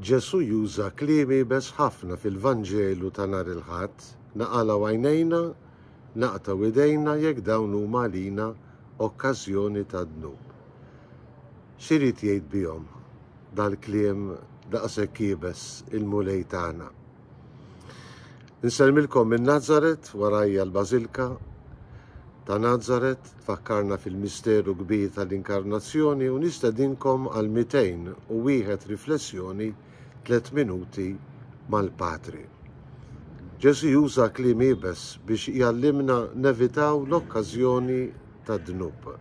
Ġesù juża kliem iebes ħafna fil-Vanġelu ta' nhar il-Ħadd, Naqalgħu għajnejna, naqtgħu idejna jekk dawn huma għalina okkażjoni ta' dnub. X'irid jgħid bihom dal-kliem daqshekk iebes il-Mulej tagħna? Nsellmilkom minn Nazaret, warajja l-Bażilka ta' Nazaret, tfakkarna fil-misteru kbir tal-inkarnazzjoni u nistedinkom għal 201 riflessjoni 3 minuti mal-Patri. Ġesu juża kliem ibes biex jallimna nevitaw l-okkażjoni ta' dnub.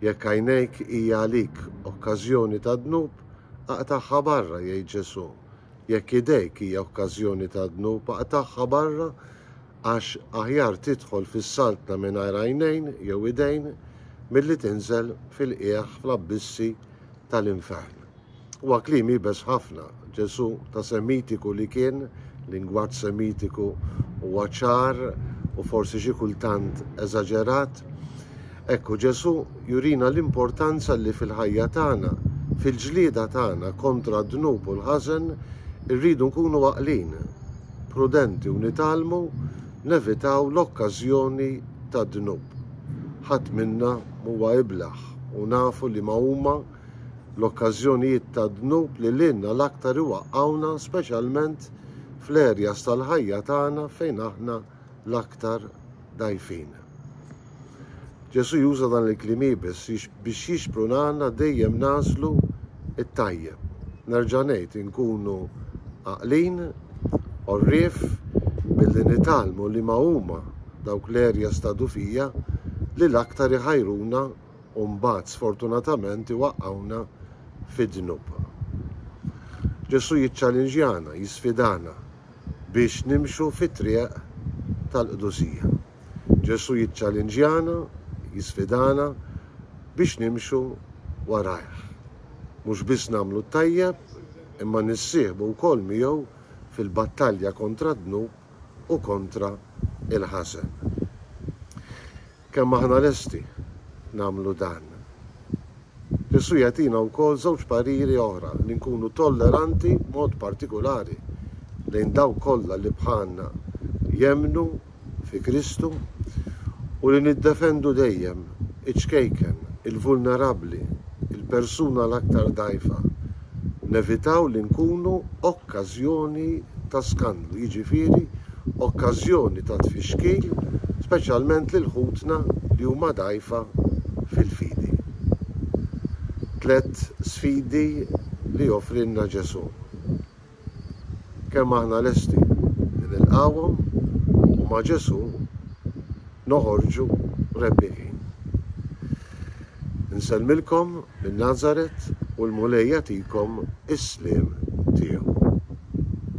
Jekk għajnejk hija għalik okkażjoni ta' dnub, aqtaħħa barra jgħid Ġesu, Jekk idejk hija okkażjoni ta' dnub, aqtagħha barra, għax aħjar tidħol fis-saltna mingħajr għajnejn jew idejn milli tinżel fil-qiegħ fl-abbissi tal-infern. Huwa kliem iebes ħafna. Ġesù ta' Semitiku li kien, lingwaġġ Semitiku huwa ċar u forsi xi kultant eżaġerat, Hekk hu Ġesù jurina l-importanza li fil-ħajja tagħna, fil-ġlieda tagħna kontra d-dnub u l-ħażen, irridu nkunu għaqlin, prudenti u nitgħallmu nevitaw l-okkażjoni tad-dnub. Ħadd minna m'huwa iblah u nafu liema huma l-okkażjonijiet tad-dnub li lilna l-aktar iwaqqgħuna speċjalment fl-areas tal-ħajja tagħna fejn aħna l-aktar dgħajfin. Ġesù juża dan il-kliem iebes biex jixprunana dejjem nagħżlu t-tajjeb. Nerġa' ngħid, inkunu għaqlin, għorrief, billi nitgħallmu liema huma dawk l-areas ta' dufija li l-aktar iħajruna u mbagħad sfortunatament iwaqqgħuna fid-dnub. Ġesù jiċċalinġjana, jisfidana, biex nimxu fit-triq tal-qdusija. Ġesù jiċċalinġjana, jisfidana biex nimxu warajh. Mhux biss nagħmlu t-tajjeb, imma nissieħbu wkoll miegħu fil-battalja kontra d-dnub u kontra l-ħażen. Kemm aħna lesti nagħmlu dan? Ġesù jagħtina wkoll żewġ pariri oħra, li nkunu tolleranti b'mod partikulari lejn dawk kollha li bħalna jemmnu fi Kristu u li niddefendu dejjem iċ-ċkejken, il-vulnerabbli, il-persuna l-aktar dgħajfa. nevitaw li nkunu okkażjoni ta' skandlu, jiġifieri okkażjoni ta' tfixkil speċjalment lil ħutna li huma dgħajfa fil-fidi. Tliet sfidi li joffrilna Ġesù. kemm aħna lesti li nilqgħuhom u ma' Ġesù noħorġu rebbieħin. Insellmilkom minn Nazaret u l-Mulej jagħtikom is-sliem tiegħu.